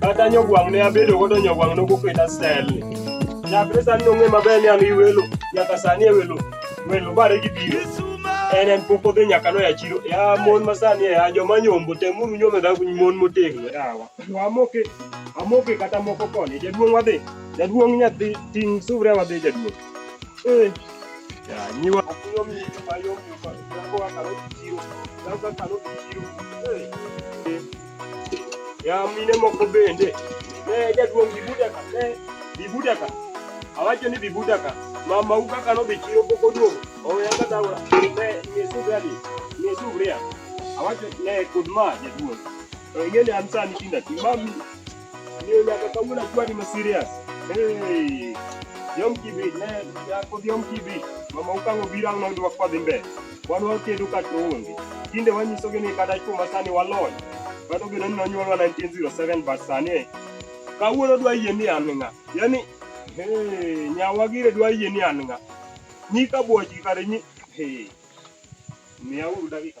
Kata nyogwang' ne abedo godo nyogwang' nokoketa style ni. Chakre sani nong'e maber ni an gi welo, nyaka sani e welo, welo bare gi biro. En en pok odhi nyaka noya chiro. Ya mon ma sani e ya joma nyombo temuru nyome dha mon motegno yawa. Wamoke, amoke kata moko koni. Jaduong' wadhi, jaduong' nyathi ting' suvria wadhi jaduong'. Eh, ya nyiwa. Yom yom yom yom yom. Yako akalo chiro, yako akalo chiro. Eh. Ya mine moko bende. Ne jaduong' Bibuda ka. Ne Bibuda ka. Awacho ni Bibuda ka. Mama u kaka no bichiro poko duong'. Oya ka dawa. Ne ne subrali. Ne subria. Awacho ne kudma jaduong'. Ingene an sani tinda timami Tinde wanyisogi ni kata chuo ma sani walony, kata obedo ni nonyuolwa 1907 but sani kawuono dwa yie ni an ng'a yani hey, nyawa gire dwa yie ni an ng'a nyika bwochgi kare nyi hey, miya uru dakika